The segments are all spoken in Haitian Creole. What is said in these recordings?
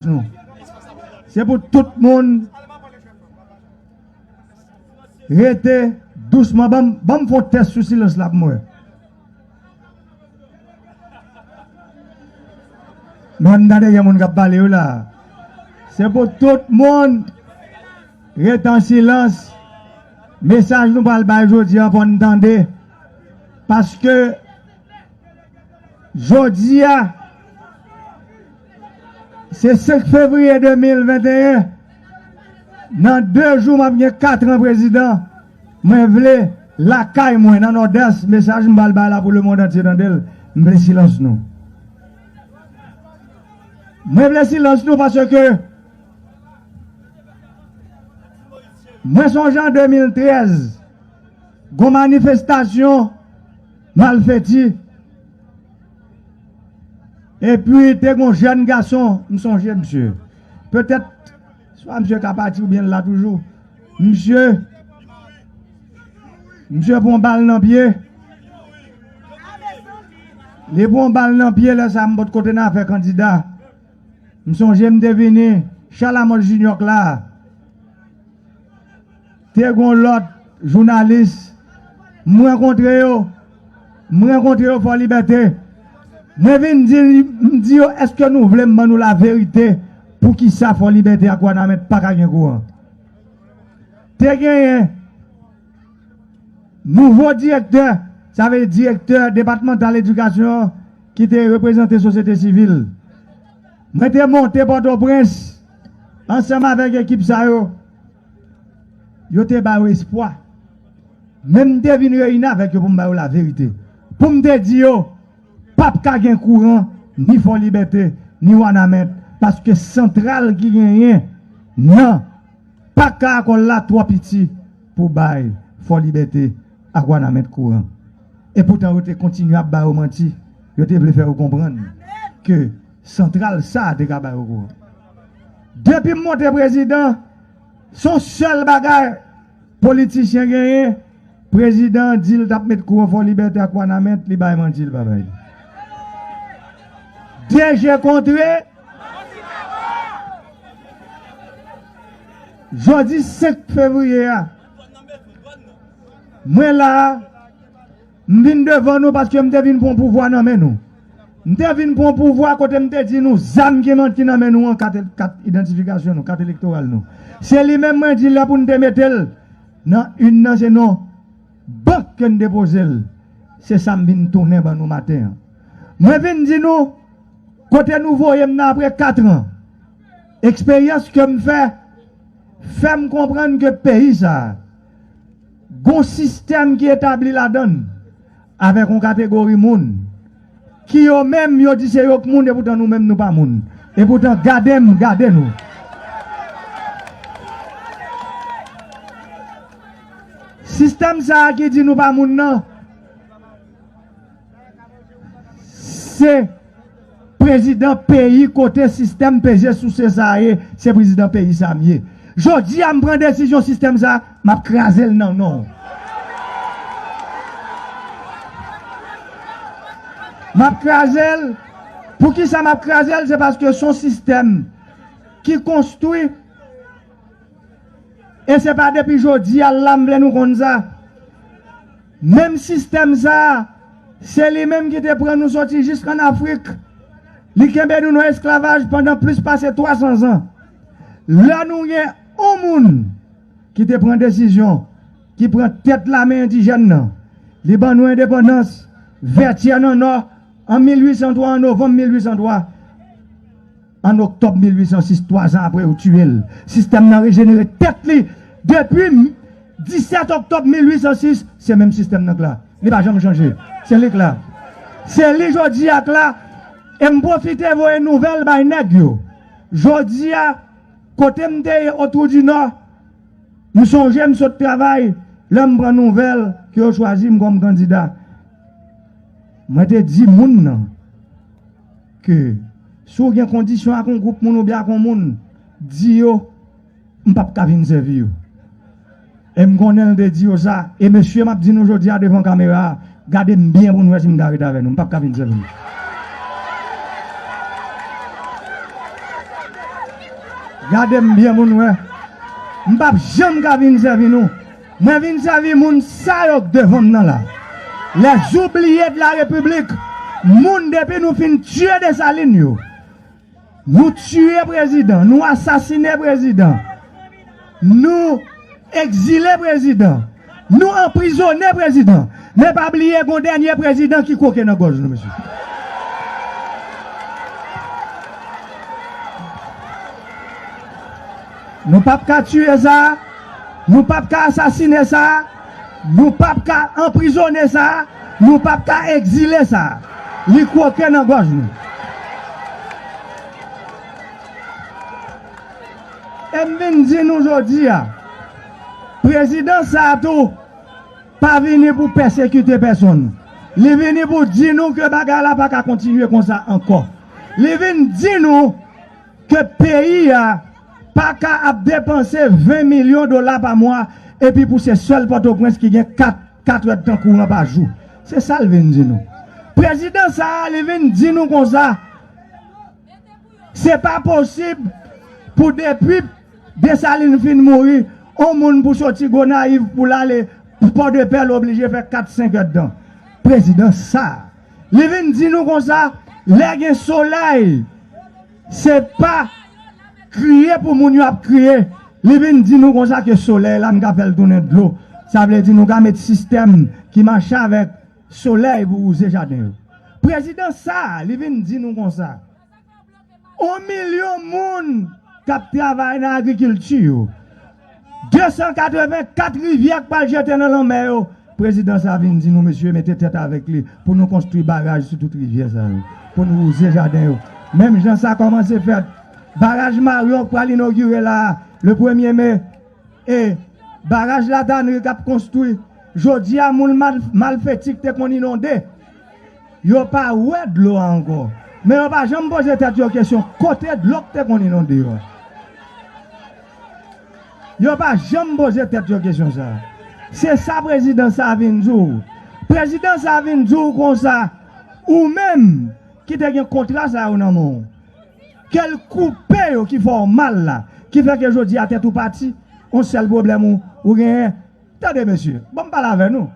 Nou. Se pou tout moun rete dousman banm banm fon tès sou silans la pou m wè. Bon an n gade gen moun k ap pale wi la. Se pou tout moun rete an silans. Mesaj nou pral bay jodi an fò n tande paske jodi a Se 5 fevriye 2021 nan 2 jou map gen 4 tran prezidan mwen vle lakay mwen nan nòdès mesaj m bal bay la pou lemond antye tandel m vle silans nou mwen vle silans nou paske mwen sonje an 2013 gon manifestasyon malfeti Epi te gon jèn gason, m sonje msye. Petèt swa msye ka pati oubyen l la toujou. Msye msye pran yon bal nan pye. Li pran yon bal nan pye lè sa a m bòt kote n a fè kandida. M sonje m te vini Chalamòl Jinyò k la. Te gon lot jounalis m rankontre yo, m rankontre yo Fò Libète, mwen vin di m di yo eske nou vle m ban nou la verite pou kisa Fò Libète ak Wanament pa ka gen kouran. Te genyen nouvo direktè, sa vle di direktè depatmantal edikasyon an ki te reprezante sosyete sivil. Mwen te monte Pòtoprens ansanm avèk ekip sa yo. Yo te ba yo espwa. Men m te vin reyini avèk yo pou m ba yo laverite, pou m te di yo, Pap ka gen kouran, ni Fò Libète, ni Wanament, paske santral ki genyen nan Pak Karakòl la twò piti pou bay Fò Libète ak Wanament kouran. Epoutan yo te kontinye ap ba yo manti, yo te vle fè yo konprann ke santral sa a te ka ba yo kouran. Depim monte prezidan son sèl bagay politichyen genyen prezidan an dil tap met kou an fò libète ak wanament li bay manti li pa bay li de je kontre manti pa fò jodi 5 fevriye a mwen la. M vin devan nou paske m te vin pran pouvwa nan men nou. M te vin pran pouvwa kote m te di nou zam ki man ki nan men nou an kat kat idantifikasyon nou, kat elektoral nou. Se li menm mwen di lè pou n te mete l nan urn nan se nan bank ke n depoze l. Se sa m vin tounen ban nou maten an. Mwen vin di nou kote nou voye m nan apre katran. Eksperyans ke m fè, fè m konprann ke peyi sa a Gon sistèm ki etabli ladann avèk yon kategori moun ki yo menm yo di se yo k moun epoutan nou menm nou pa moun epoutan gade m gade nou. Sistèm sa ki di nou pa moun nan. Se prezidan peyi kote sistèm peze souse sa a ye, se prezidan peyi sa a m ye. Jodi a m pran desizyon sistèm sa a, m ap kraze l nan non w. M ap kraze l, poukisa m ap kraze l, se paske se yon sistèm ki konstwi e se pa depi jodi a l la m vle nou konn sa. Menm sistèm sa a, se li menm ki te pran nou soti jis ann Afrik. Li kenbe nou nan esklavaj pandan plis pase 300 zan. Lè nou gen yon moun ki te pran desizyon, ki pran tèt lame endijèn nan, li ban nou endepandans, Vètyè nan Nò, an 1803, an novanm 1803. An oktòb 1806, twa zan apre yo tiye l, sistèm nan rejenere tèt li. Depi 17 oktòb 1806, se menm sistèm nan k la. Li pa janm chanje. Se li k la. Se li jodi a k la. E m pwofite voye nouvèl bay nèg yo. Jodi a, kote m te ye Otwoudinò, m sonje m sot travay lè m pran nouvèl ke yo chwazi m kòm kandida. Mwen te di moun nan. ke si w gen kondisyon ak yon gwoup moun oubyen ak yon moun, di yo m p ap ka vin sèvi yo. E m konnen l te di yo sa. E mesye m ap di nou jodi a devan kamera a, gade m byen pou nou wè si m ka ret avè nou. M p ap ka vin sèvi nou. Gade m byen pou nou wè. M p ap janm ka vin sèvi nou. Mwen vin sèvi moun sa yo k devan m nan la. Les oubliés de la République moun depi nou fin tiye Dessalines yo nou tiye prezidan nou asasine prezidan nou ekzile prezidan nou anprizone prezidan men pa bliye gon dènye prezidan ki kwoke nan gòj nou mesye. Nou pap ka tiye sa, nou pap ka asasine sa, nou pap ka anprizone sa, nou pap ka egzile sa. Li kwoke nan gòj nou. E m vin di nou jodi a, prezidan sa a tou pa vini pou pèsekite pèsonn. Li vini pou di nou ke bagay la pa ka kontinye konsa ankò. Li vin di nou. ke peyi a pa ka ap depanse 20 milyon dola pa mwa epi pou se sèl Pòtoprens ki gen 4 katrèdtan kouran pa jou. Se sa l vin di nou. Prezidan sa a li vin di nou konsa, se pa posib pou depi Desalin fin mouri, on moun pou soti Gonayiv pou l ale Pòdepè l oblije fè 4 senkèdtan. Prezidan sa a. Li vin di nou konsa, lè gen solèy, se pa kriye pou moun yo ap kriye. Li vin di nou konsa ke solèy la, nou ka fè l tounen dlo. Sa vle di nou ka met sistèm ki mache avèk solèy pou wouze jaden yo. Prezidan sa a, li vin di nou konsa. 1 milyon moun k ap travay nan agrikilti yo, 284 rivyè k pral jete nan lanmè yo, prezidan sa vin di nou mesye mete tèt avèk li pou nou konstwi baraj sou tout rivyè sa yo pou nou wouze jaden yo menm jan sa kòmanse fèt baraj Maryon k pral inogire la a le premye me e baraj Latanri k ap konstwi jodi a moun malfeti k te konn inonde. Yo pa wè dlo a ankò, men yo pa janm poze tèt yo kesyon kote dlo k te konn inonde yo a. Yo pa janm poze tèt yo kesyon sa a. Se sa prezidan sa a vin di w. Prezidan sa a vin di w konsa, ou menm ki te gen kontra sa yo nan men w, ke l koupe yo ki fè w mal la, ki fè ke jodi a tèt ou pati, on sèl pwoblèm ou genyen. Tande mesye, ban m pale avè nou.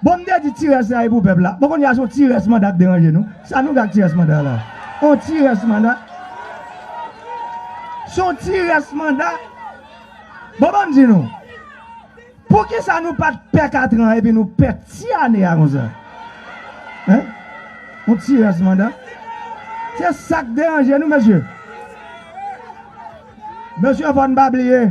Bon m te di ti rès la e pou pèp la bon kounya son ti rès manda k deranje nou sa nou gen ak ti rès manda la on ti rès manda son ti rès manda bon banm di nou poukisa nou pat pè katran epi nou pè ti ane a konsa hein on ti rès manda se sak deranje nou mesye mesye fòn pa bliye.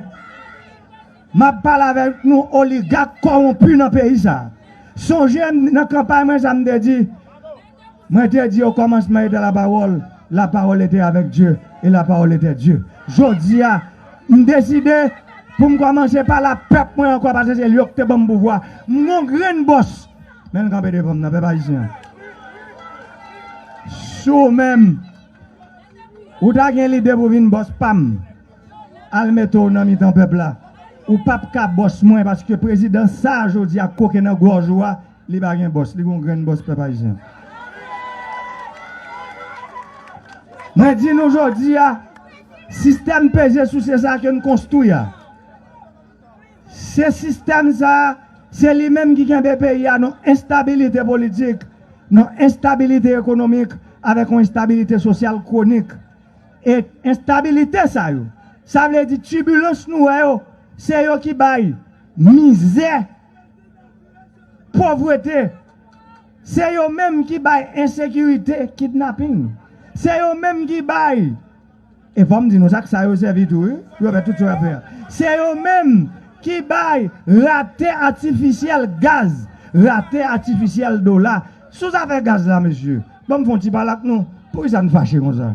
Map pale avek nou oligak kowonpi nan peyi sa. Sonje m nan kanpay mwen sa m te di? Mwen te di o komansman ete la pawol, la pawol ete avek Dye e la pawol ete Dye. Jodi a m deside pou m komanse pale a pep mwen anko paske se yo ki te banm pouvwa. M gon grenn bos men l kanpe devan m nan pep ayisyen an. Si w menm ou ta gen lide pou vin bos pam. Al mete w nan mitan pèp la. Ou pap ka bòs mwen paske prezidan sa a jodi a koke nan gòj ou a li pa gen bòs, li gen yon grenn bòs pèp ayisyen. Mwen di nou jodi a sistèm peze souse sa a ke n konstwi a se sistèm sa a se li menm ki kenbe peyi a nan enstabilite politik, nan enstabilite ekonomik avèk yon enstabilite sosyal kwonik. E enstabilite sa yo, sa vle di tibilans nou wè yo, se yo ki bay mizè, povrete, se yo menm ki bay ensekirite, kidnaping, se yo menm ki bay, e fò m di nou sa, ak sa yo sèvi tou wi, pou yo fè tout sa yo ap fè a, se yo menm ki bay rate atifisyèl gaz, rate atifisyèl dola, sou zafè gaz la mesye. Banm fon ti pale ak nou, poukisa n fache konsa?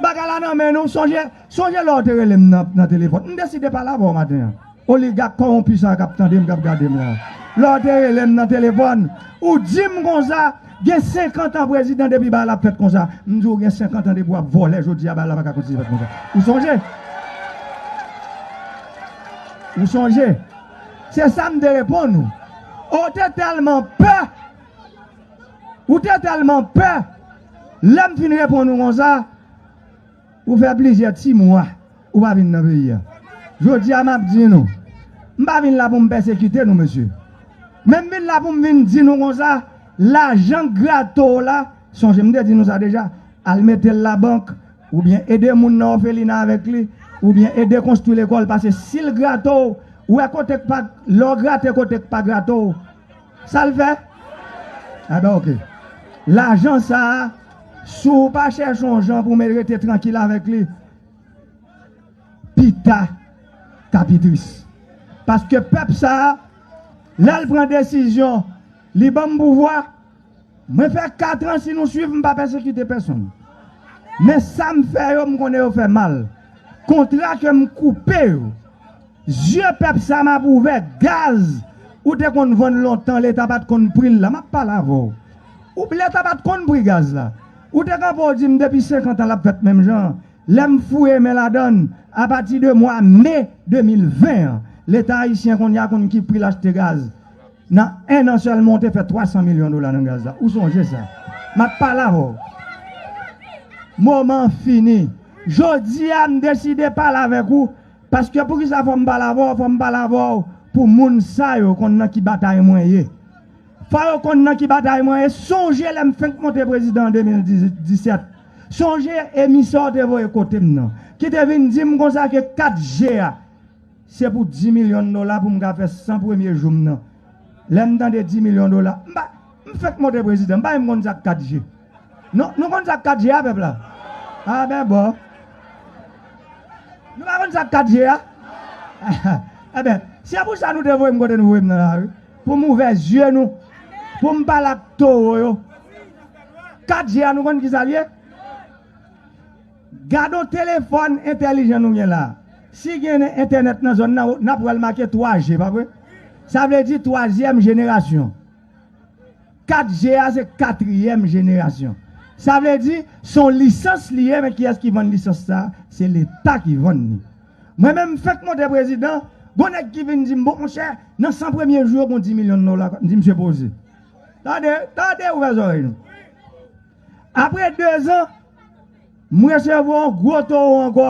Bagay la nan men nou, sonje, sonje lè w te rele m nan, nan telefòn. M deside pale avè w maten an. Oligak kòwonpi sa a k ap tande m, k ap gade m la a. Lè w te rele m nan telefòn, ou di m konsa, gen senkant an prezidan depi bagay la ap fèt konsa. M di w gen senkant an depi w ap vòlè jodi a bagay la pa ka kontinye fèt konsa. Ou sonje? Ou sonje? Se sa m te reponn ou. Ou te tèlman pè! Ou te tèlman pè, lè m fin reponn ou konsa, ou fè plizyè ti mwa ou pa vin nan peyi a. Jodi a m ap di nou, m pa vin la pou m pèsekite nou mesye, men m vin la pou m vin di nou konsa, lajan k grate w la, sonje m te di nou sa deja, al mete l labank, oubyen ede moun nan òfelina avèk li, oubyen ede konstwi lekòl, pase si l grate w, wè kote k pa, lè w grate kote k pa grate w, Sa l fè? A ben ok. Lajan sa a, si w pa chèche yon jan pou men rete trankil avèk li, pita k a pi tris. Paske pèp sa a, lè l pran desizyon, li ban m pouvwa, mwen fè katran si nou suiv m pa pèsekite pèsonn. Men sa m fè yo m konnen yo fè mal. Kontra ke m koupe yo. Yeux pèp sa map ouvè gaz ou te konn vann lontan leta pat konn pril la map pale avèw ou leta pat konn pri gaz la ou te kanpe ou dim depi 50 ans lap fèt menm jan lèm fouye men ladann apati de mwa me 2020 an leta ayisyen konnya konn ki pril achte gaz nan 1 an sèlman ou te fè 300 milyon dola nan gaz la ou sonje sa map pale avèw moman fini jodia m deside pale avèk ou. Paske poukisa fòm pale avèw fòm pale avèw pou moun sa yo konn nan ki batay mwen ye fò yo konn nan ki batay mwen ye sonje lèm fenk monte prezidan an 2017 sonje emisè w te voye kotem nan kite vin dim konsa ke 4 G a se pou 10 milyon dola poum ka fè 100 premye joum nan lèm tande 10 milyon dola m pa M fèk monte prezidan m pa menm konn sak 4 je non nou konn sak 4 je a pèp la ah ben bon nou pa konn sak 4 je a ah ben se pou sa nou te voyem kote nou voyem nan la wi pou m ouvè zye nou pou m pale ak towo yo 4 je a nou konn kisa l ye gadon telefòn entèlijan nou gen la si gen entènèt nan zòn nan nap wèl make 3 je pa vre sa vle di twazyèm jenerasyon. 4G a se katriyèm jenerasyon. Sa vle di, se yon lisans li ye men kiyès ki vann lisans sa a? Se Leta ki vann li. Mwen menm m fèk monte prezidan, gon nèg ki vin di m, bon monchè, nan 100 premye jou yo gon 10 milyon dola k ap, m di misye poze. Tande, tande, ouvè zòrèy nou. Apre dezan, m resevwa yon gwo towo ankò.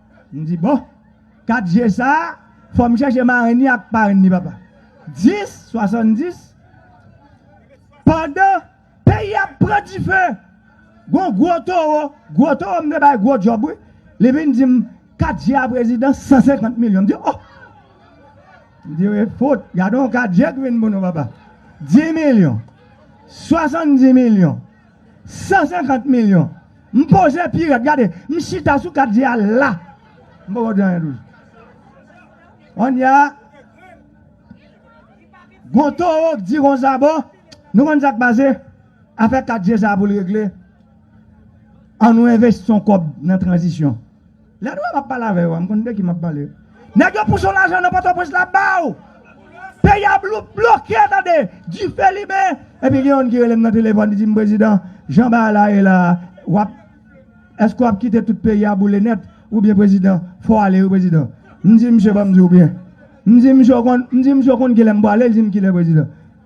M di bon, 4 je sa a, fò m chèche marenn li ak parenn li papa. 10, 70, pandan peyi a ap pran dife, gon gwo towo, gwo towo m te bay gwo djòb wi, li vin di m, 4 je a prezidan, 150 milyon. M di oh! M di e fout, gade yon 4 je ki vin pou nou papa. 10 milyon, 70 milyon. 150 milyon m poze pi rèd gade m chita sou kat je a la m poko di anyen toujou kounye a gon towo k di konsa bon nou konn sak pase afè kat je sa poul regle an nou envesti yon kòb nan tranzisyon. Lè nou wè map pale avè yo a m konn de ki map pale. Nèg yo pouche w lajan nan pòtoprens la ba w. Peyi a bloke tande, dife limen. Epi gen youn ki rele m nan telefòn li di m prezidan jan bagay la ye la a wap èske wap kite tout peyi a boule nèt ou byen prezidan fò w ale wi prezidan. M di misye banm di w byen. M di misye w konn kilè m pwale li di m kilè prezidan.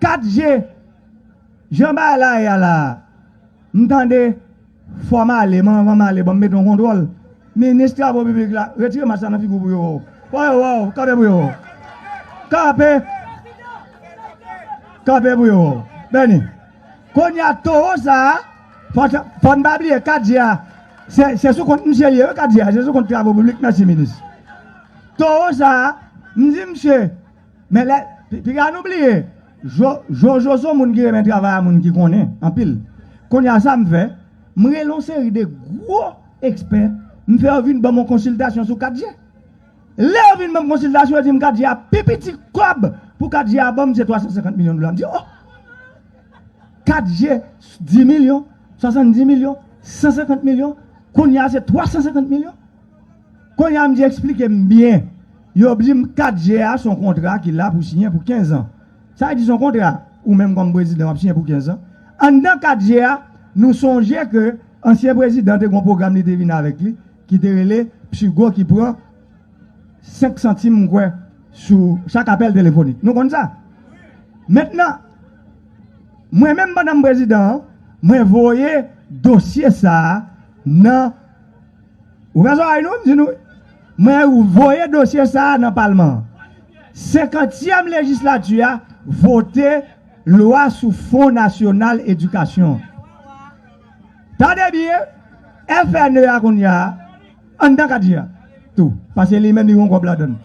4 je Jan bagay la ye a la a M tande Fò m ale men anvan m ale ban m mete yon kontwòl Minis travo piblik la Retire mask la nan figi w pou yo wè w Fò yo wè w Kanpe pou yo wè w Kanpe Kanpe pou yo wè w Beni Kounye a towo sa a Fò n pa bliye 4 je a Se sou kont misye l ye wi 4 je a Se sou kont travo piblik Mèsi minis Towo sa a M di misye Men lè piga nou bliye jojo son moun ki renmen travay a moun ki konnen anpil kounye a sam fè m rele yon seri de gwo ekspè m fè yo vin banm yon konsiltasyon sou 4G lè yo vin banm konsiltasyon yo dim 4G a pi piti kòb pou 4G a banm se 350 milyon dola m di oh 4G 10 milyon 70 milyon 150 milyon kounye a se 350 milyon Kounye a m di eksplike m byen. Yo di m 4 je a s on kontra ki la pou siyen pou kenzan. Sa vle di s on kontra ou menm kòm prezidan w ap siyen pou kenzan. Anndan 4 je a, nou sonje ke ansyen prezidan te gen yon pwogram li te vin avèk li ki te rele PSUGO ki pran 5 santim m kwè sou chak apèl telefonik. Nou konn sa? Mentnan, mwen menm pandan m prezidan an, mwen voye dosye sa a nan. Ouvè zòrèy nou, m di nou, mwen voye dosye sa a nan palman an. Senkantyèm lejislati a vote lwa sou fon nasyonal edikasyon an. Tande byen, FNE a kounye a, anndan kadi a tou, paske li menm li gen yon kòb ladan l.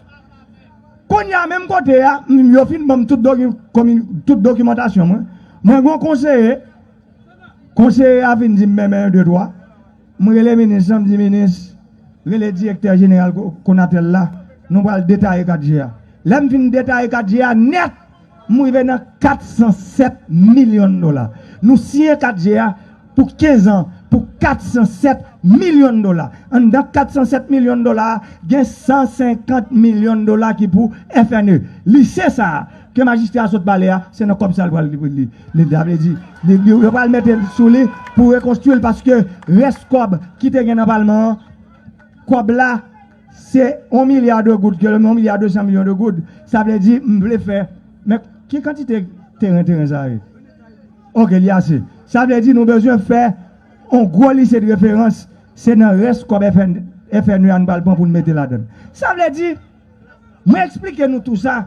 Kounye a menm kote a, yo fin ban m tout dokimantasyon mwen, mwen gen yon konseye, konseye a fin di m men men yon de twa, M rele minis lan m di minis rele direktè jeneral Konatel la nou pral detaye 4 je a lè m fin detaye 4 je a nèt m rive nan 407 milyon dola nou siyen 4 je a pou 15 an pou 407 milyon dola anndan 407 milyon dola a gen 150 milyon dola ki pou FNE lise sa a Ke majistra a sot pale a se nan kòb sa li pral li sa vle di yo pral mete sou li pou rekonstwi l paske rès kòb ki te gen nan palman an kòb la se 1 milya de goud ke lè m 1 milya 200 milyon de goud sa vle di m vle fè men ki kantite teren teren sa ye ok li ase sa vle di nou bezwen fè yon gwo lise de referans se nan rès kòb FN FNE a nou pral pran pou nou mete ladan l sa vle di Mwen eksplike nou tou sa.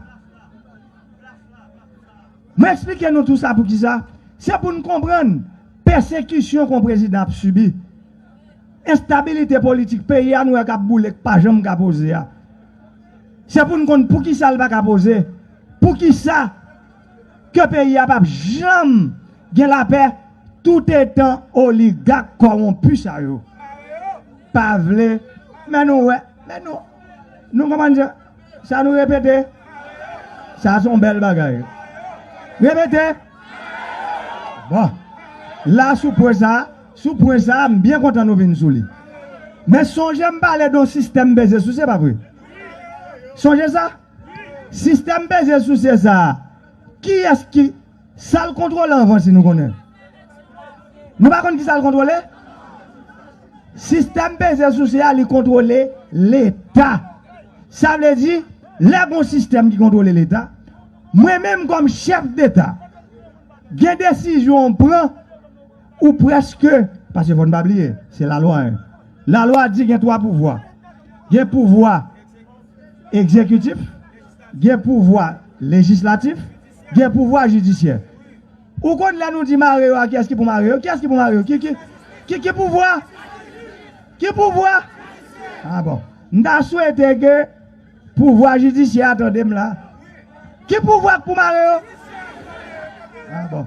Mwen eksplike nou tou sa pou kisa? Se pou n konprann pèsekisyon kon prezidan ap sibi. Enstabilite politik peyi a nou wè k ap boule k pa janm ka poze a. Se pou n konn pou kisa l pa ka poze. Pou kisa? ke peyi a pap janm gen lapè toutetan oligak kòwonpi sa yo pa vle men nou wè men nou nou konprann sa sa nou repete sa son bèl bagay repete bon la sou pwen sa sou pwen sa m byen kontan nou vin sou li men sonje m pale don sistèm beze sou se pa vre sonje sa. Sistèm peze souse sa a, kiyès ki. Sa l kontwole anvan si nou konnen? Nou pa konn ki sa l kontwole? Sistèm peze souse a li kontwole Leta. Sa vle di, lè gon sistèm ki kontwole Leta, mwen menm kòm chèf deta, gen desizyon ou pran, ou prèske, pase fò n pa bliye, se lalwa 1. Lalwa di gen twa pouvwa. Gen pouvwa. egzekitif, gen pouvwa lejislatif, gen pouvwa jidisyè. Ou konn lè nou di mare yo a kiyès ki pou mare yo? Kiyès ki pou mare yo? Ki ki ki ki pouvwa? Ki pouvwa? A bon. M ta swete ke pouvwa jidisyè a tande m la. Ki pouvwa k pou mare yo? A bon.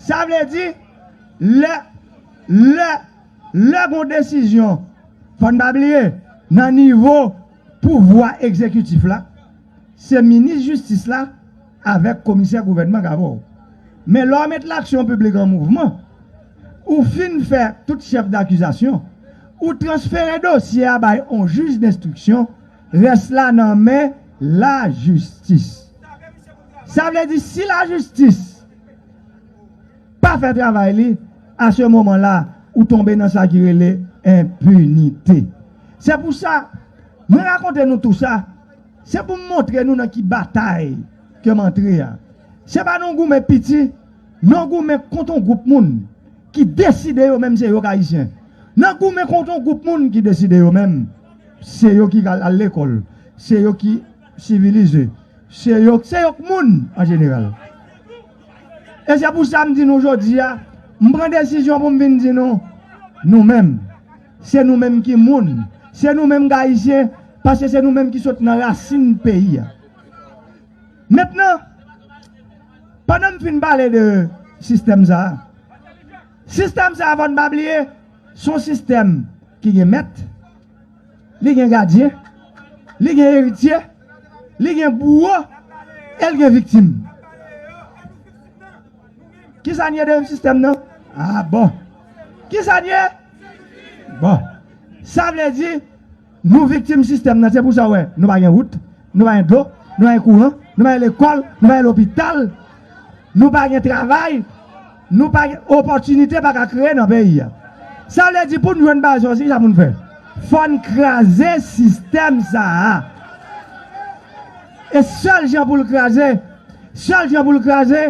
Sa vle di lè lè Lè gon desizyon, fò n pa bliye, nan nivo pouvwa egzekitif la, se minis jistis la avèk komisè gouvènman k avè w. Men lè w met laksyon piblik an mouvman, ou fin fè tout chèf dakizasyon, ou transfere dosye a bay on jij denstriksyon, rès la nan men lajistis. Sa vle di si lajistis. pa fè travay li a se moman la ou tonbe nan sa ki rele enpinite se pou sa mwen rakonte nou tou sa se pou m montre nou nan ki batay ke m antre a se pa nan goumen piti nan goumen kont yon gwoup moun ki deside yo menm se yo k ayisyen nan goumen kont yon gwoup moun ki deside yo menm se yo ki al lekòl se yo ki sivilize se yo k moun an jeneral. E se pou sa m di nou jodi a, m pran desizyon pou m vin di nou, nou menm, se nou menm ki moun, se nou menm k Ayisyen, paske se nou menm ki sot nan rasin peyi a. Mentnan, pandan m fin pale de sistèm sa a, sistèm sa a fò n pa bliye, s on sistèm ki gen mèt, Li gen gadyen, li gen eritye, li gen bouwo, e l gen viktim. Ki sa n ye deyim sistèm nan? A bon! Ki sa n ye? Bon! Sa vle di, nou viktim sistèm nan. Se pou sa ou wè, nou pa gen wout, nou pa gen dlo, nou pa gen kouran, nou pa gen lekòl, nou pa gen lopital, nou pa gen travay. Nou pa gen opòtinite pa ka kreye nan peyi a. Sa vle di pou n jwenn baz yo se kisa pou n fè? Fò n kraze sistèm sa a. E sèl jan pou l kraze, sèl jan pou l kraze,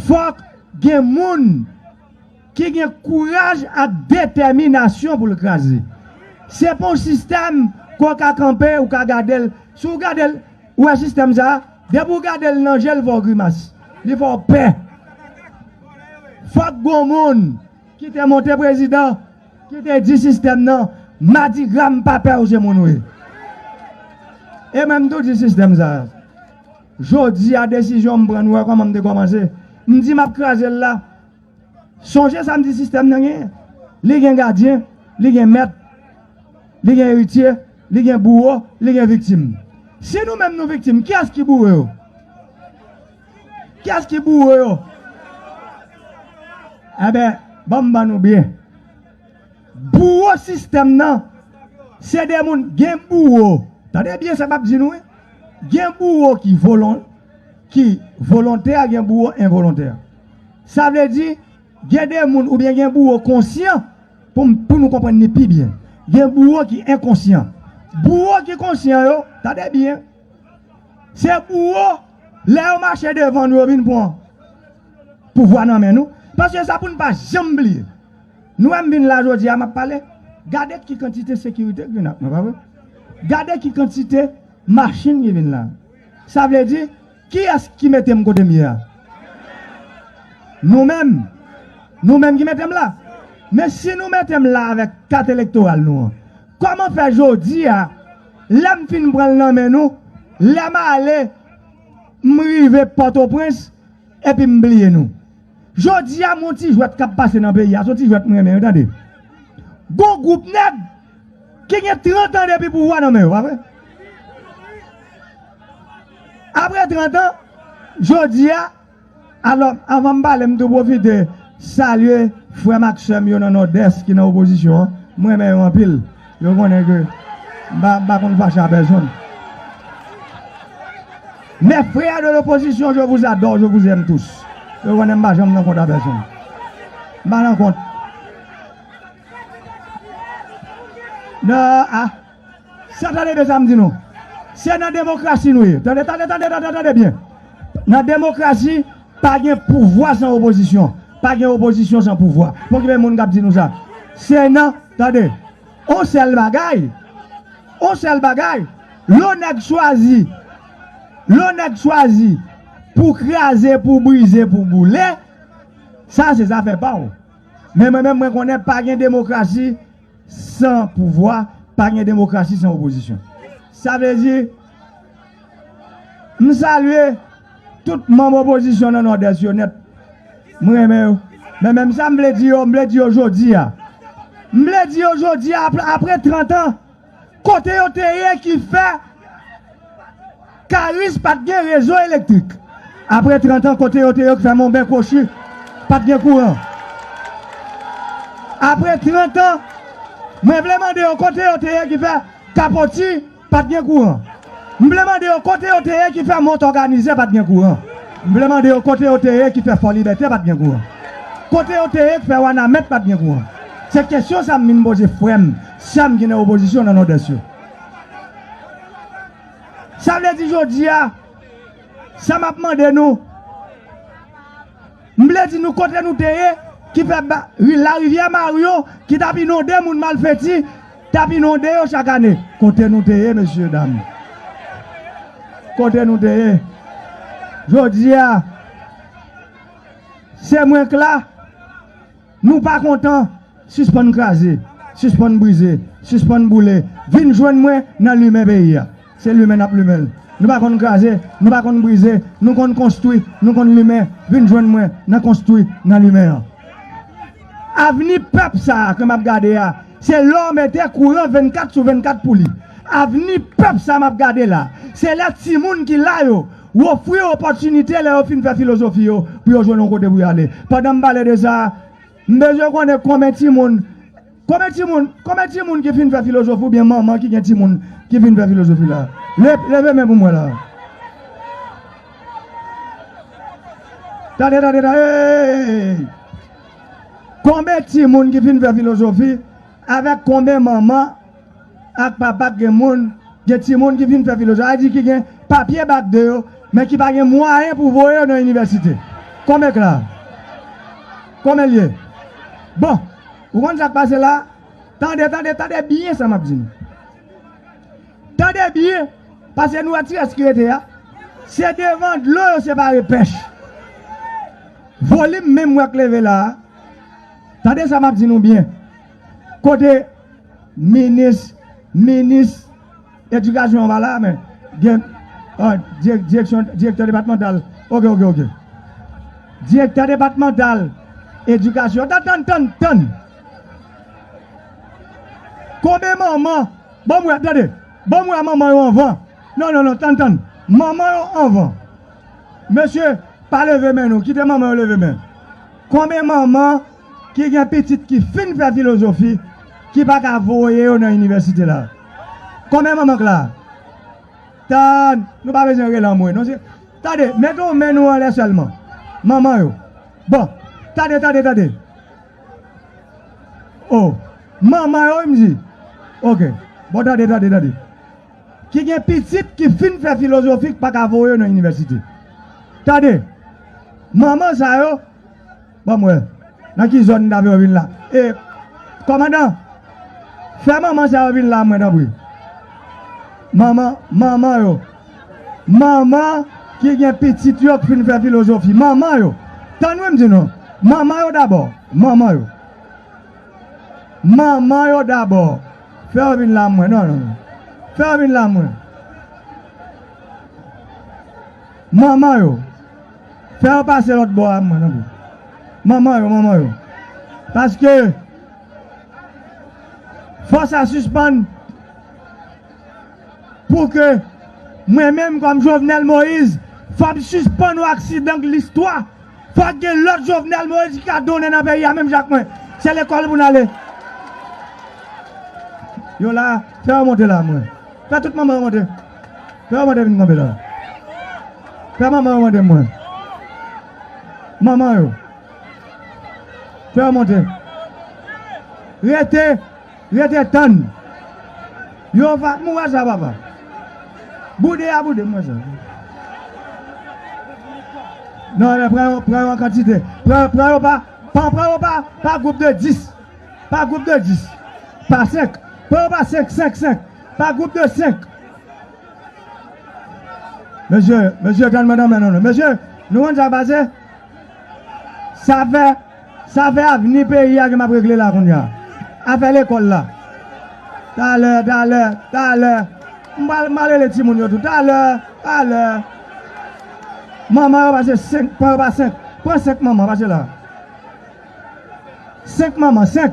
fòk gen moun ki gen kouraj ak detèminasyon pou l kraze. Se pa yon sistèm ke w ka kanpe, ou ka gade l. Si w gade l, ou wè sistèm sa a? Depi w gade l nan je l fè w grimas, li fè w pè. Fòk gon moun ki te monte prezidan ki te di sistèm nan madigra m pa pè w se moun w ye. E mwen m tou di sistèm sa a jodi a desizyon m pran nou wè kòman m te kòmanse m di m ap kraze l la. Sonje sa m di sistèm nan genyen. Li gen gadyen, li gen mèt, li gen eritye, li gen bouwo, li gen viktim. Si nou menm nou viktim, kiyès ki bouwo yo? Kiyès ki bouwo yo? Enben, ban m ban nou byen. Bouwo sistèm nan, se de moun, gen bouwo, tande byen sa m ap di nou wi, gen bouwo ki volontè, gen bouwo envolontè. Sa vle di, gen de moun oubyen gen bouwo konsyan, pou nou konprann ni pi byen. Gen bouwo ki enkonsyan. Bouwo ki konsyan yo, tande byen, se bouwo, lè yo mache devan nou yo vin pran pouvwa nan men nou. Paske sa pou nou pa janm bliye. Nou wè m vin la jodi a m ap pale, gade ki kantite sekirite ki vin ak mwen, pa vre? Gade ki kantite machin ki vin la. Sa vle di. Kiyès ki mete m kote m ye a? Nou menm! Nou menm ki mete m la! Men si nou mete m la avèk kat elektoral nou an, kòman fè jodi a, lè m fin pran l nan men nou, lè m ale, m rive Pòtoprens epi m bliye nou? Jodi a m on ti jwèt k ap pase nan peyi a, s on ti jwèt m renmen wi tande. Gon gwoup nèg ki gen 30 an depi pouvwa nan men yo, pa vre? Apre 30 an, jodi a, alò anvan m pale m tou pwofite salye frè m ak sè m yo nan Nòdès ki nan opozisyon an, m renmen yo anpil. Yo konnen ke m pa konn fache a pèsonn. Mes frères de l'opposition je vous adore, je vous aime tous. Yo konnen m pa janm nan kont a pèsonn. M pa nan kont. Nan a, sa tande byen sa m di nou. Se nan demokrasi nou ye. Tande, tande, tande, tande, tande byen. Nan demokrasi. Pa gen pouvwa san opozisyon. Pa gen opozisyon san pouvwa. Pokipe moun k ap di nou sa. Se nan, tande, on sèl bagay, on sèl bagay, lè on nèg chwazi, lè on nèg chwazi pou kraze, pou brize, pou boule, sa se zafè pa w. Men mwen menm mwen konnen pa gen demokrasi. San pouvwa, pa gen demokrasi san opozisyon. Sa vle di, m salye tout manm opozisyon nan Nòdès yo nèt. M renmen yo. Men menm sa m vle di yo, m vle di yo jodi a. M vle di yo jodi a, apre trantan, Kote yo te ye ki fè Karis pa t gen rezo elektrik? Apre trantan, kote yo te yo ki fè Monben Kwochi pa t gen kouran? Apre trantan, mwen vle mande yo kote yo te ye ki fè Kapoti pa t gen kouran? M vle mande yo kote yo te ye ki fè Mont Òganize pa t gen kouran? M vle mande yo kote yo te ye ki fè Fòlibète pa t gen kouran? Kote yo te ye ki fè Wanament pa t gen kouran? Se kesyon sa m vin poze frè m. Sèm ki nan opozisyon nan Nòdès yo. Sa vle di jodi a, sa m ap mande nou, m vle di nou kote nou te ye ki fè larivyè Maryo ki t ap inonde moun malfèti t ap inonde yo chak ane. Kote nou te ye mesye dam? Kote nou te ye? Jodi a, se mwen k la. Nou pa kontan? Sispann kraze, sispann brize, sispann boule, vin jwenn mwen nan limen peyi a. Se limen n ap limen l. Nou pa konn kraze, nou pa konn brize, nou konn konstwi, nou konn limen, vin jwenn mwen nan konstwi, nan limen an. Avni pèp sa a ke m ap gade a, se lè w mete kouran 24 sou 24 pou li. Avni pèp sa a m ap gade la, se lè timoun ki la yo, Ou ofri yo opòtinite lè yo fin fè filozofi yo pou yo jwenn yon kote pou yo ale. Pandan m pale de sa, m bezwen konnen konben timoun konben timoun konben timoun ki fin fè filozofi oubyen manman ki gen timoun ki fin fè filozofi la? Leve men pou m wè la. Tande tande tande eeyy! Konben timoun ki fin fè filozofi avèk konben manman Ak pa bak gen moun, gen timoun ki fin fè filozwa, sa di ki gen papye bak 2 yo, men ki pa gen mwayen pou voye yo nan inivèsite. Konbyen k la? Konbyen l ye? Bon, ou konn sa k pase la? Tande, tande, tande byen sa m ap di nou. Tande byen, pase nou wè ti rès ki rete a, se devan dlo yo separe pèch. Volim men m wè k leve la a, tande sa m ap di nou byen. Kote minis minis edikasyon an pa la men gen direksyon direktè depatmantal ok ok ok direktè depatmantal edikasyon tann tann tann tann konbyen manman banm wè tande banm wè manman yo anvan non non non tann tann manman yo anvan mesye pa leve men nou kite manman yo leve men konbyen manman ki gen pitit ki fin fè filozofi ki pa ka voye yo nan inivèsite la. Konbyen manman k la? Ta, nou pa bezwen rele anmwe non. Se, tande, mete yon men nou anlè sèlman. Manman yo. Bon, tande, tande, tande. O, manman yo wi m di. Ok. Bon tande, tande, tande. Ki gen pitit ki fin fè filozofi k pa ka voye yo nan inivèsite. Tande, manman sa yo. Banm wè. Nan ki zòn dave yo vin la. E Kòmandan Fè manman sa yo vin la mwen tanpri. Manman manman yo. Manman ki gen pitit yo k fin fè filozofi. Manman yo. Tann wi m di nou. Manman yo dabò. Manman yo. Manman yo dabò. Fè yo vin la mwen. Non non. Fè yo vin la mwen. Manman yo. Fè yo pase lòt bò a mwen tanpri. Manman yo manman yo. Paske fò sa sispann pou ke mwen menm kòm Jovenel Moise fòm sispann yon aksidan listwa. Fòk gen lòt Jovenel Moise ki ka donnen nan peyi a menm jan ak mwen. Se lekòl pou n ale. Yo la, fè yo monte la mwen. Fè tout manman yo monte. Fè yo mande vin kanpe la. Fè manman yo mande mwen. Manman yo. Fè yo monte. Rete, rete tann. Yo va, m wè sa papa. Boude a boude, m wè sa. Non, eh, pran yo, pran yo an kantite. Pran, pran yo pa, pa pran yo pa, pa gwoup de 10. Pa gwoup de 10. Pa 5. Pran yo pa 5, 5, 5. Pa group de 5. Mesye, mesye tann mwen tanmen non. Mesye, nou konn sa k pase? Sa fè, sa fè avni peyi a ke m ap regle la kounya. Afè lekòl la. Talè, talè, talè. M pral, m pral rele timoun yo tou. Talè, talè. Manman yo pase 5, pran yo pa 5. Pran 5 manman, pase la. 5 manman, 5.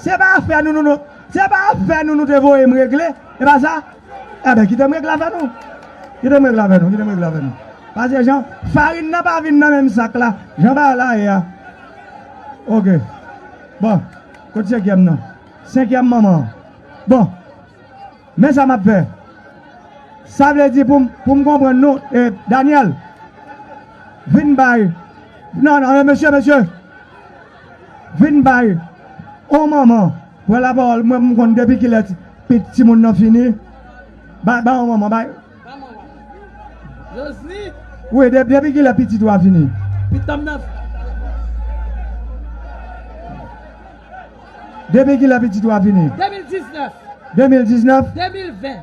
Se pa afè nou nou Se pa afè nou nou te voye m regle E pa sa Enben kite m regle afè nou Kite m regle afè nou Kite m regle afè nou Pase jan Farin nan pa vin nan menm sak la Jan bagay la ye a Ok Bon Kot senkyèm nan Senkyèm manman an Bon Men sa m ap fè Sa vle di pou m pou m konprann nou e Daniel Vin bay Non non e mesye mesye Vin bay on manman pran la parole mwen pou m konn depi kilè pit timoun nan fini bay bay on manman bay wi depi kilè pitit ou a fini depi kilè pitit ou a fini 2019 2019 2020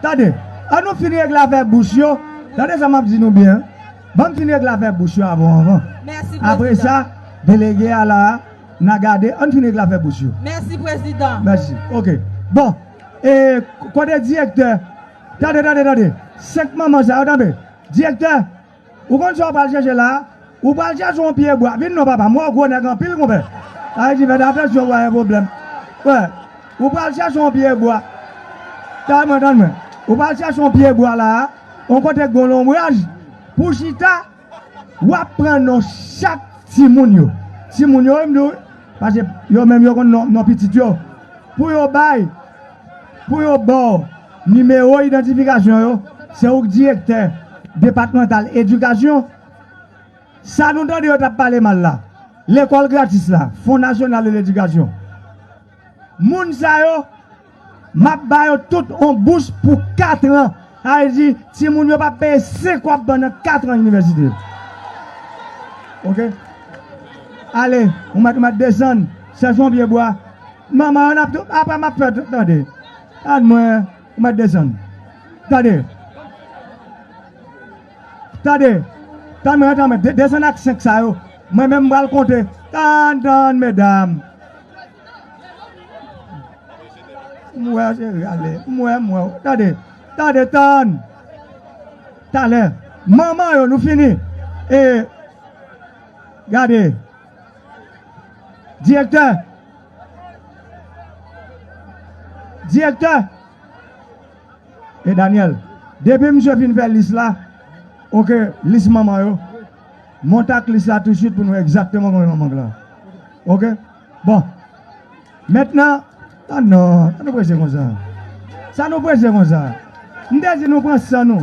Tande, an nou fin regle afè bous yo, tande sa map di nou byen, ban m fin regle afè bous yo avon anvan. Apre sa, delege a la a, na gade, an fin regle afè bous yo. Mèsi prezidan. Mèsi. Ok. Bon, e kote direktè, tande, tande, tande, 5 manman sa yo, tande, direktè. Ou konn sa w pral chèche la a? Ou pral chèche yon pye bwa. Vin non papa m wè w gwo nèg anpil konpè. Ayiti fè ta fè si yo wè yon pwoblèm. Wè, ou pral chèche yon pye bwa. Tande mwen, tande mwen. Ou pral chèche yon pye bwa la a, yon kote k gon lonbraj pou w chita. W ap pran non chak timoun yo. Timoun yo wi m di w wi. Paske yo menm yo konn non pitit yo. Pou yo bay, pou yo ba w. Nimewo idantifikasyon yo se ou k direktè depatmantal edikasyon sa nou tande yo tap pale mal la lekòl gratis la fon nasyonal de ledikasyon moun sa yo map ba yo tout on bous pou 4 tran sa vle di ti moun yo pap peye 5 wap pandan 4 tran inivèsite ok ale ou mèt ou mèt desann chèch on pye bwa manman yo nap tou aprè map fè tande. Ad mwen ou mèt desann. Tande. Tande. Tande mwen antan mèt desann ak 5 sa yo. Mwen menm m pral konte. Tann tann medam. M wè cheri ale. M wè m wè w. Tande. Tande tann. Talè. Manman yo nou fini. E. Gade. Direktè! Direktè! E Daniel, depi misye fin fè lis la, ok, lis manman yo, monte ak lis la tousuit pou nou wè egzakteman konbyen manman Glan. Ok? Bon. Mentnan, tann non, sa nou prese konsa? Sa nou prese konsa? M te di nou pran san nou.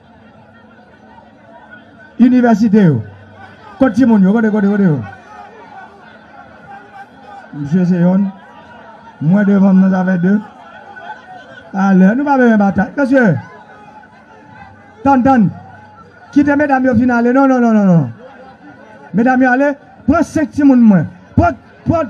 Inivèsite yo. Kot ti moun yo? Kote, kote, kote yo? Msye se yonn. Mwen devan m nan sa fè 2. Alè, nou pa bezwen batay. Mesye, tann, tann. Kite medam yo fin ale. Non, non, non, non, non. Medam yo ale. Pran 5 ti moun mwen. Pran, pran.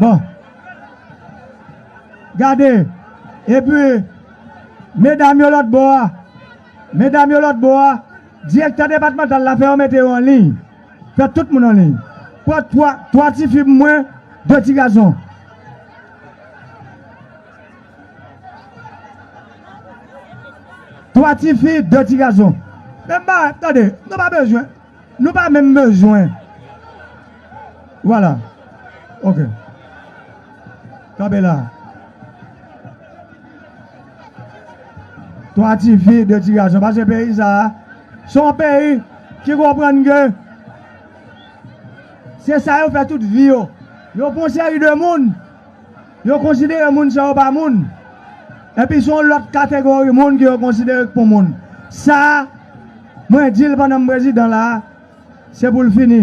Bon. Gade. Epi, medam yo lòt bò a, medam yo lòt bò a, direktè depatmantal la fè yo mete yo an liy. Fè tout moun an liy. Pran twa, twa tifi pou mwen, de ti gason. Twa tifi, de ti gason. Menm bagay, tande, nou pa bezwen. Nou pa menm bezwen Voilà ok Kanpe la Twa ti fi de ti gason Pase peyi sa a Son peyi ki konprann ke Se sa yo fè tout vi yo Yo pran yon seri de moun Yo konsidere moun sa yo pa moun Epi son lòt kategori moun ke yo konsidere k pou moun Sa a Mwen dil pandan m prezidan la se poul fini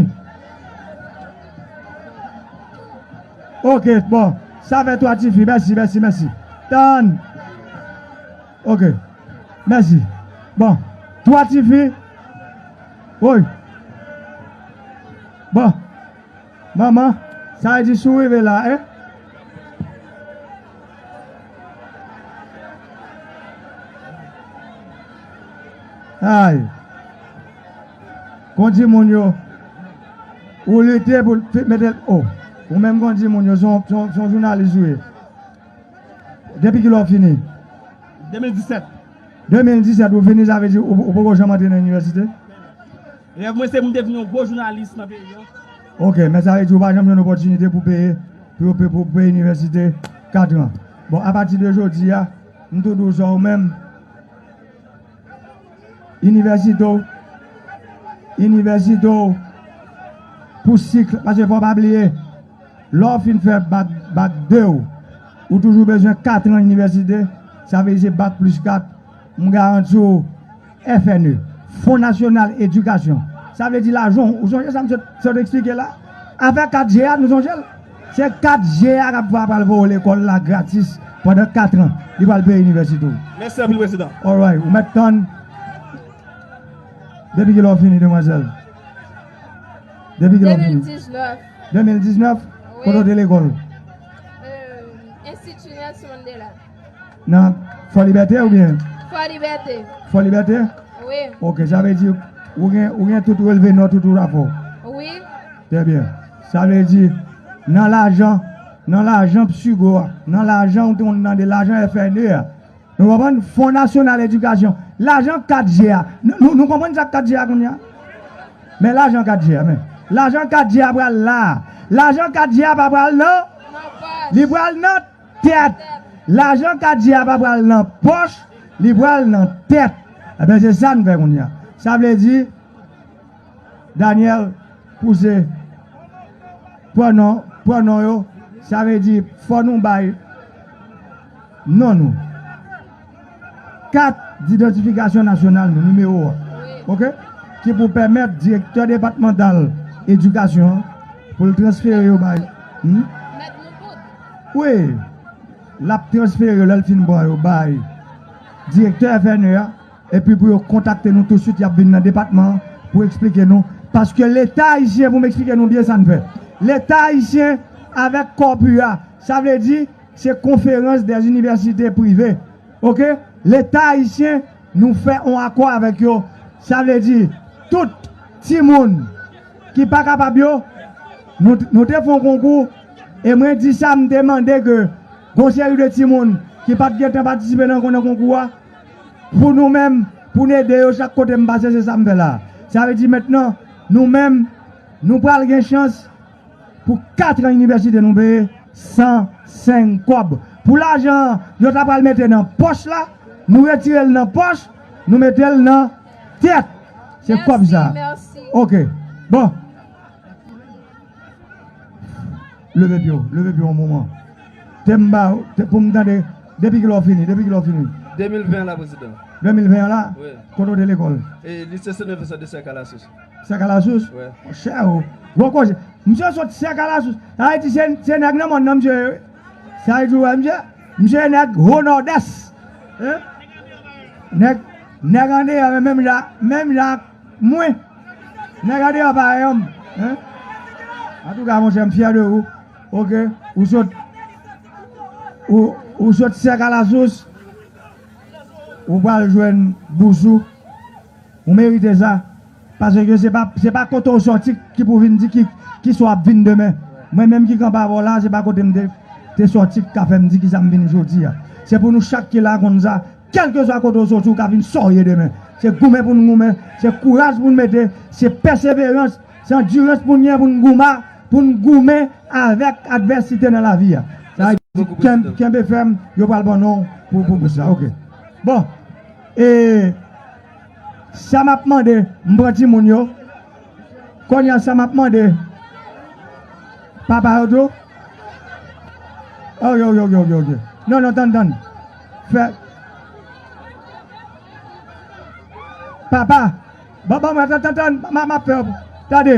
ok bon sa fè 3 tifi mèsi mèsi mèsi tann ok mèsi bon 3 tifi woy bon. Manman, sa di si w rive la eh. Ay! Kon di moun yo, ou lite pou l mete l oh. Ou menm kon di moun yo, se yon jounalis ou ye. Depi kilè ou fini? 2017. 2017 ou fini sa vle di ou poko janm antre nan inivèsite? Rèv mwen se pou m te vin yon gwo jounalis nan peyi an. Ok, men sa vle di ou pa janm jwenn opòtinite pou peye pou yo pou w peye inivèsite 4 an. Bon, apati de jodi a, m tou di w sa ou menm, inivèsite w, inivèsite w pou sikl, paske fò w pa bliye, lè w fin fè bak, bak 2 w, ou toujou bezwen 4 an inivèsite, sa vle di se bak plis 4, m garanti w. FNE, Fon Nasyonal Edikasyon, sa vle di lajan w, ou sonje sa m sot eksplike la? Afè 4G a, nou sonje l? Se 4G a k ap va pral voye w lekòl la gratis pandan katran, li pral peye inivèsite w. Mèsi anpil, Prezidan. Alright, ou mèt tann depi ki lè w fini, demwazèl. Depi ki lè w fini? 2019. 2019? Kote w te lekòl? Enstiti Nelson Mandela. Nan Fò Libète oubyen? Fò Libète. Fò Libète? Wi. Ok, sa vle di ou gen ou gen tout relve nòt ou tou la fò? Wi. Trè byen. Sa vle di nan lajan nan lajan Psigo a, nan lajan ou te konn tande lajan FNE a, nou konprann Fon Nasyonal Edikasyon, lajan 4 je a, nou nou konprann sa k 4 je a kounye a? Men lajan 4 je a men. Lajan 4 je a pral la a. Lajan 4 je a pa pral nan? Nan pòch. Li pral nan? Tèt! Lajan Kadjy a pa pral nan pòch, li pral nan tèt. Enben se sa n fè kounye a. Sa vle di, Daniel pouse pwonon, pwonon yo, sa vle di fò nou bay non nou. Kat didantifikasyon nasyonal nou, nimewo a, ok, ki pou pèmèt direktè depatmantal edikasyon an pou l transfere yo bay. Mèt nou tout. Wi, l ap transfere yo lè l fin pran yo bay direktè FNE a epi pou yo kontakte nou tousuit y ap vin nan depatman an pou esplike nou. Paske Leta ayisyen, pou m esplike nou byen sa n fè, Leta ayisyen avèk Corpu a, sa vle di. Se konferans dè inivèsite prive ok leta ayisyen nou fè on akò avèk yo sa vle di tout timoun ki pa kapab yo nou nou te fon konkou e mwen di sa m te mande ke gon seri de timoun ki pat gentan patisipe nan nan konkou a pou nou menm pou n ede yo chak kote m pase se sa m fè la sa vle di mentnan nou menm nou pral gen chans Pou 4 an inivèsite nou peye san seng kòb. Pou lajan an yo ta pral mete nan pòch la, nou retire l nan pòch, nou mete l nan tèt. Se kòb sa. Ok. Bon. Leve pye w. Leve pye w yon moman. Te m ba w, te pou m tande. Depi ki lè w fini? Depi ki lè w fini? 2020 an la, prezidan. 2020 an la? Wi. Kote w te lekòl? Lise Senè Vincent de Cerca la Source. Sèkalasous? Monchè o! Gwo koze! Msye sot Sèkalasous! Sa vle di se nèg nan mòn nan msye ye wi. Sa vle di ou wè msye? Msye se nèg Ho Nòdès. Nèg Nèg andeyò yo menm jan menm jan ak mwen. Nèg andeyò pa wè yonm. Antouka monchè m fyè de ou. Ok ou sot Ou sot Sèkalasous ou pral jwenn bous ou. Ou merite sa, paske se pa se pa kote ou sòti ki pou vin di ki ki sa w ap vin demen. Mwen menm ki kanpe avè w la a, se pa kote m te te sòti ki ka fè m di ki sa m vin jodi a. Se pou nou chak ki la a konn sa, kèlkeswa kote ou sòti ou ka vin sa w ye demen. Se goumen pou n goumen, se kouraj pou n mete, se pèseverans, se andirans pou n gen pou n goumen pou n goumen avèk advèsite nan lavi a. Sa a di kenbe fèm, yo pral ban non w pou pou sa. Ok. Bon. E sa m ap mande, m pran timoun yo, kounye a sa m ap mande papa yo tou, ok ok ok ok non non tann tann fè papa, bon bon m ap tann tann m ap fè yo tande.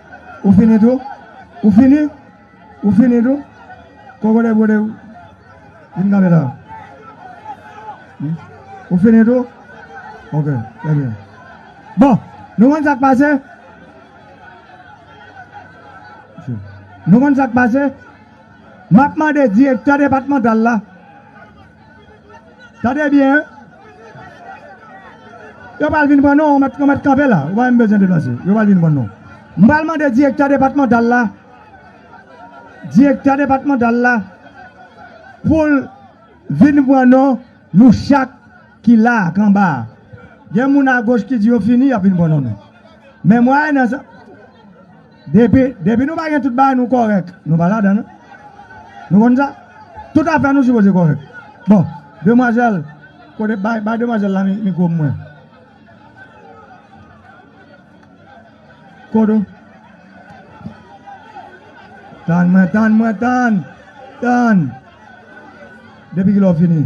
Ou fini tou? Ou fini? Ou fini tou? Kòkòday bwode ou vin kanpe la. Ou fini tou? Ok, trè byen. Bon, nou konn sa k pase? Nou konn sa k pase? M ap mande direktè depatmantal la. Tande byen. Yo pral vin pran nou, yo mèt yo mèt kanpe la, ou pa menm bezwen deplase. Yo pral vin pran nou. M pral mande direktè depatmantal la, direktè depatmantal la pou l vin pran nou, nou chak ki la a, k anba a. Gen moun agoch ki di yo fini, y ap vin pran non nou. Men mwen ale nan sa. Depi, depi nou pa gen tout bagay nou kòrèk, nou pa ladan l. Nou konn sa? Tout afè nou sipoze kòrèk. Bon, demwazèl, kote, bay, bay demwazèl la mikwo pou mwen. Kodo. Tann mwen, tann mwen, tann! Tann! Depi kilè w fini?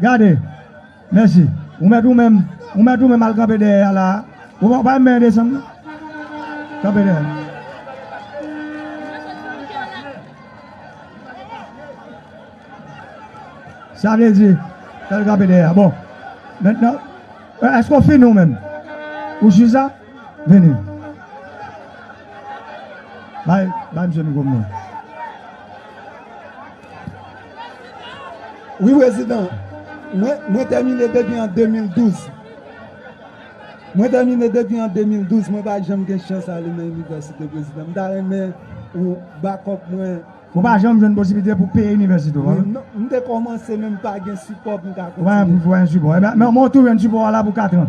Gade! Mèsi. Ou mèt ou menm, ou mèt ou menm al kanpe dèyè a la a. Ou pa janm benyen desann non. Kanpe dèyè a. Sa vle di, fè l kanpe dèyè a. Bon, mentnan, èske ou fini ou menm? Ou jis la? Vini. Bay, bay misye mikwo m nan. Wi prezidan, mwen tèmine depi an 2012. Mwen tèmine depi an 2012, mwen pa janm gen chans ale nan inivèsite prezidan. M ta renmen ou bakòp mwen. Ou pa janm jwenn posiblite pou peye inivèsite ou? Non, m te kòmanse men m pa gen sipò pou m ka kontinye. Ou pa gen sipò? Mwen tou jwenn sipò a la pou katran.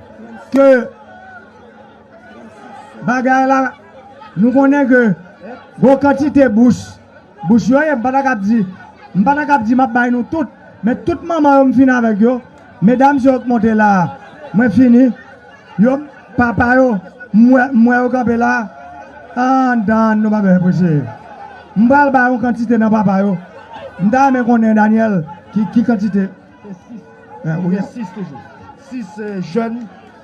Ke bagay la nou konnen ke gwo kantite bous, bous yo ye m pa ta kab di, m pa ta kab di m ap bay nou tout, men tout manman yo m fini avèk yo, medam yo k monte la a mwen fini, yo papa yo m wè yo kanpe la a anndan an nou pa bezwen preche. M pral bay yon kantite nan papa yo, m ta renmen konnen Daniel ki kantite. Gen 6. Gen 6 toujou. 6 jèn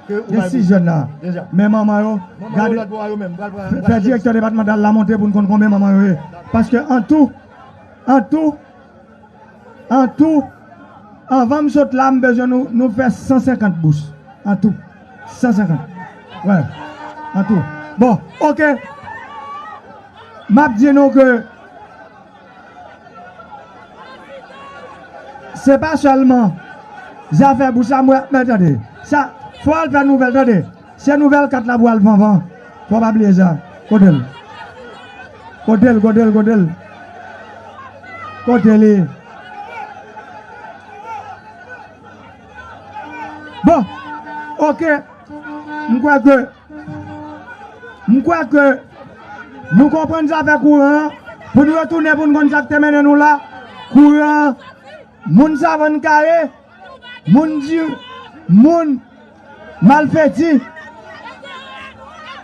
ke ou bay bourse. Gen 6 jèn la. Deja. Men manman yo. Manman yo lòt bò a yo menm. Fè direktè depatmantal la monte pou n konn konbyen manman yo ye. Paske an tou, an tou, an tou, anvan m sot la m bezwen nou, nou fè 150 bous. An tou. 150. Wè. An tou. Bon. Ok. M ap di nou ke. Se pa sèlman zafè bouch la mwen ap men tande. Sa fò al fè nouvèl tande. Se nouvèl 4 la pou al vanvan. Fò pa bliye sa. Kote l? Kote l, kote l, kote l? Kote li? Bon, ok, m kwè ke. M kwè ke nou konprann zafè kouran an, pou n retounen pou n konn sa k te mennen nou la, kouran an, moun savann kare, moun di, moun malfeti,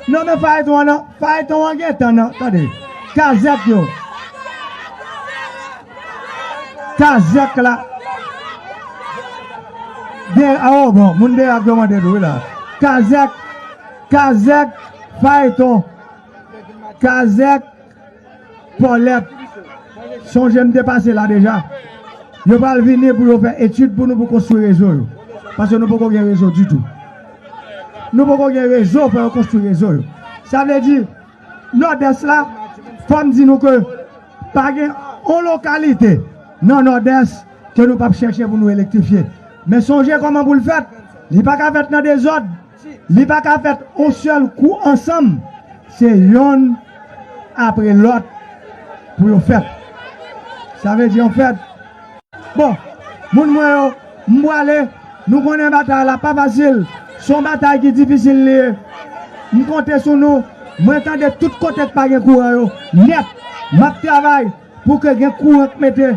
non men fayton an, fayton an gen tan nan, tande, kazèk yo. Kazèk la gen a o bon moun deyò ap demande tou wi la kazèk kazèk fayton kazèk pòlèt sonje m te pase la deja yo pral vini pou yo fè etid pou nou pou konstwi rezo yo paske nou poko gen rezo ditou nou poko gen rezo fò yo konstwi rezo yo sa vle di nòdès la fò m di nou ke Pa gen yon lokalite nan Nòdès ke nou pap chèche pou nou elektrifye. Men sonje kòman pou l fèt. Li pa ka fèt nan dezòd. Li pa ka fèt yon sèl kou ansanm. Se yonn apre lòt pou yo fèt. Sa vle di anfèt. Bon Moun mwen yo, m pwale, nou konnen batay la pa fasil, s on batay ki difisil li ye. M konte sou nou, mwen tande tout kote k pa gen kouran yo nèt, m ap travay pou ke gen kouran k mete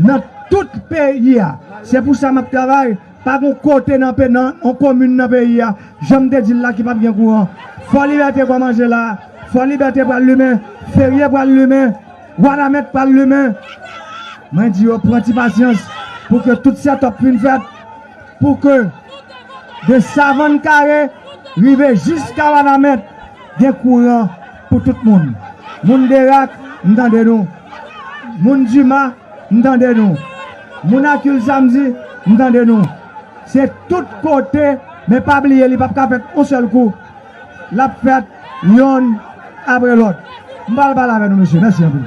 nan tout peyi a, se pou sa m ap travay, pa gon kote nan yon komin nan peyi a, jan m te di l la ki p ap gen kouran. Fòlibète kòmanse la, Fòlibète pral limen, Ferye pral limen. Wanament pral limen. Mwen di yo pran ti pasyans pou ke tout sètòp fin fèt pou ke de Savann Kare rive jiska Wanament gen kouran pou tout moun. Moun Derak, m tande nou. Moun Dima, m tande nou. Moun Akil Samdi, m tande nou. Se tout kote, men pa bliye li pap ka fèt yon sèl kou. l ap fèt yonn apre lòt. M pa pral pale avè nou mesye. Mèsi anpil.